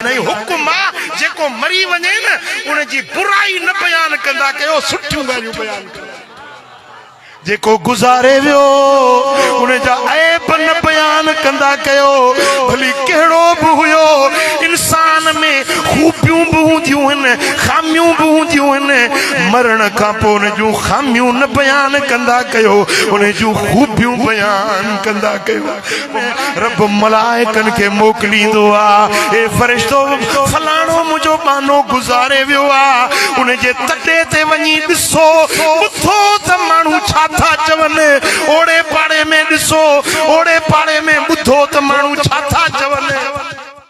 انهي حق مان جيڪو مري وڃي نه ان جي برائي نه بيان ڪندا ڪيو سٺيون ڳالهيون بيان ڪندا ڪيو جيڪو گذاري ويو ان جا عيب نه بيان ڪندا ڪيو ڀلي ڪهڙو به هيو انسان ۾ خوبيون به هونديون آهن خاميون به هونديون آهن مرڻ کان پوء ان جون خاميون نه بيان ڪندا ڪيو ان جون خوبيون بيان ڪندا ڪيو رب ملائڪن کي موڪليندو آ اي فرشتو فلاڻو منهنجو ٻانهو گذاري ويو آ ان جي تڏي تي وڃي ڏسو ٻڌو ته ماڻهو ڇا ٿا چون اوڙي پاڙي ۾ ڏسو اوڙي پاڙي ۾ ٻڌو ته ماڻهو ڇا ٿا چون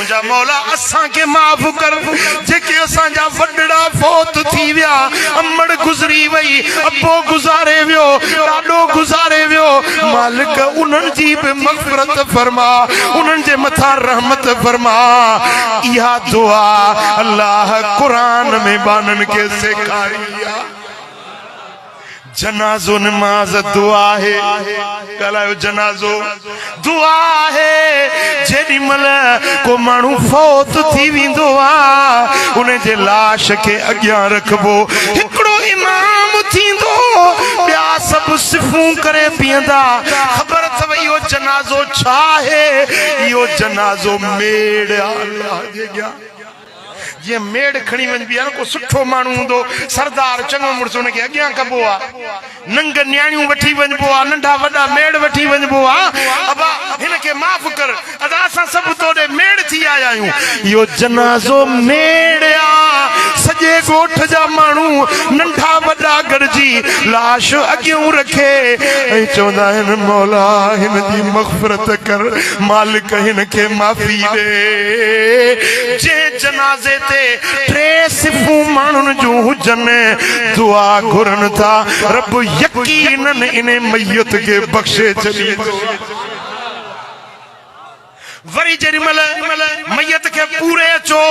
منهنجا مولا اسان کي معاف ڪر جيڪي اسان جا وڏڙا فوت ٿي ويا امڙ گذري وئي ابو گذاري ويو ڏاڏو گذاري ويو مالڪ انهن جي به مغفرت فرما انهن جي مٿان رحمت فرما اها دعا الله قرآن ۾ ٻانهن کي سيکاري آ. جنازو نماز دعا آهي ڳالهايو جنازو دعا آهي جيڏي مهل ڪو ماڻهو فوت ٿي ويندو آ ان جي لاش کي اڳيان رکبو هڪڙو امام ٿيندو ٻيا سڀ صفون ڪري بيهندا خبر اٿو اهو جنازو ڇا آهي اهو جنازو ميڙ آهي جيئن ميڙ کڻي وڃبي آهي نه، ڪو سٺو ماڻهو هوندو، سردار، چڱو مڙس، ان کي اڳيان ڪبو آهي. ننگ نياڻيون وٺي وڃبو آهي، ننڍا وڏا ميڙ وٺي وڃبو آهي. ابا! هن کي معاف ڪر. ادا! اسان سڀ تو ڏي ميڙ ٿي آيا آهيون. اهو جنازو ميڙ آ. سڄي ڳوٺ جا ماڻهو، ننڍا وڏا گڏجي لاش اڳيئون رکي ۽ چوندا آهن، مولا! هن جي مغفرت ڪر. مالڪ هن کي معافي ڏي. جنهن جنازي تي ٽي صفون ماڻهن جون هجن، دعا گهرن ٿا، رب يقيناً انهي ميت کي بخشي ڇڏيندو. وري جيڏي مهل ميت کي پوري اچو،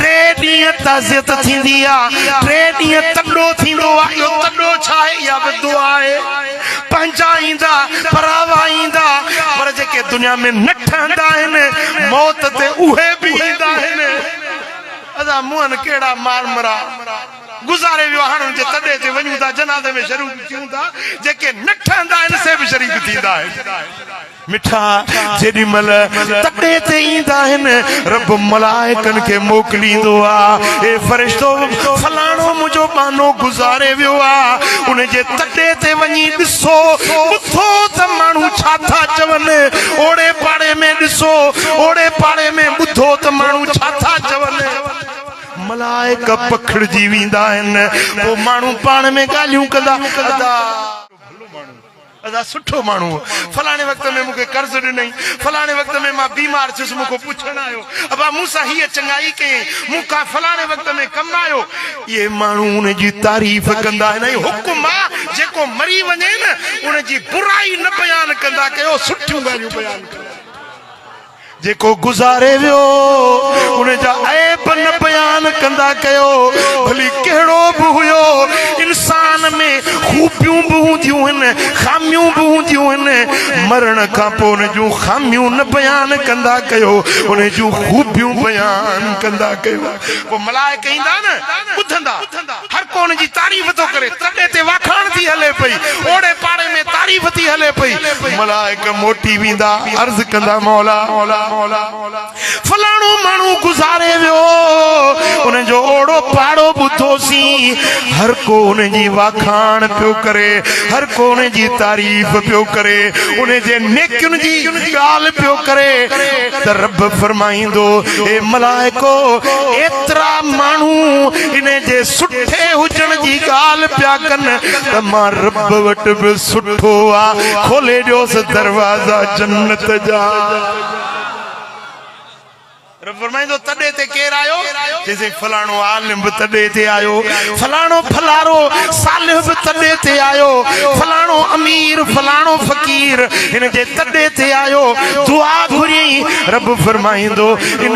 ٽي ڏينهن تعزيت ٿيندي آهي، ٽي ڏينهن تڏو ٿيندو آهي. اهو تڏو ڇا آهي؟ اها به دعا آهي. پنهنجا ايندا پراوا ايندا پر جيڪي دنيا ۾ نه ٺهندا آهن موت تي اهي به ايندا آهن ادا موهن ڪهڙا مارمرا گذاري ويو هاڻ ان جي تڏي تي وڃون ٿا جنازي ۾ شريڪ ٿيون ٿا جيڪي نه ٺهندا آهن سي به شريڪ ٿيندا آهن. مٺا جيڏي مھل تڪڙي تي ايندا آھن رب ملائڪن کي موڪليندو آ اي فرشتو فلاڻو منھنجو ٻانھو گذاري ويو آ ان جي تڪڙي تي وڃي ڏسو ٻڌو ته ماڻھو ڇا ٿا چون اوڙي پاڙي ۾ ڏسو اوڙي پاڙي ۾ ٻڌو ته ماڻھو ڇا ٿا چون ملائڪ پکڙجي ويندا آھن پوء ماڻھو پاڻ ۾ ڳالھيون ڪندا ادا ادا سٺو ماڻهو هو فلاڻي وقت ۾ مون کي قرض ڏنئين فلاڻي وقت ۾ مان بيمار ٿيس مون کان پڇڻ آيو ابا مون سان هيء چڱائي ڪيئين مون کان فلاڻي وقت ۾ ڪم آيو اهي ماڻهو ان جي تعريف ڪندا آهن ۽ حڪم آ جيڪو مري وڃي نه ان جي برائي نه بيان ڪندا ڪيو سٺيون ڳالهيون بيان ڪندا. جيڪو گذاري ويو ان جا عيب نه بيان ڪندا ڪيو ڀلي ڪهڙو به هيو انسان ۾ خوبيون به هونديون هن خاميون به هونديون هن مرڻ کان پو ان جون خاميون نه بيان ڪندا ڪيو ان جون خوبيون بيان ڪندا ڪيو پو ملائڪ ايندا نه ٻڌندا هر ڪو ان جي تعريف ٿو ڪري. تڏي تي واکاڻ ٿي هلي پئي. اوڙي پاڙي ۾ تعريف ٿي هلي پئي. ملائڪ موٽي ويندا، عرض ڪندا، مولا! فلاڻو ماڻهو گذاري ويو، ان جو اوڙو پاڙو ٻڌوسين. هر ڪو ان جي واکاڻ پيو ڪري، هر ڪو ان جي تعريف پيو ڪري، ان جي نيڪين جي ڳالهه پيو ڪري ته رب فرمائيندو، اي ملائڪو! ايترا ماڻهو ان جي سٺي هجڻ جي ڳالهه پيا ڪن ته مان رب وٽ به سٺو آ، کولي ڏيوس دروازا جنت جا. رب فرمائيندو تڏي تي ڪير آيو؟ چيسين فلاڻو عالم به تڏي تي آيو، فلاڻو ڦلارو صالح به تڏي تي آيو، فلاڻو امير فلاڻو فقير هن جي تڏي تي آيو دعا گهريائين رب فرمائيندو ان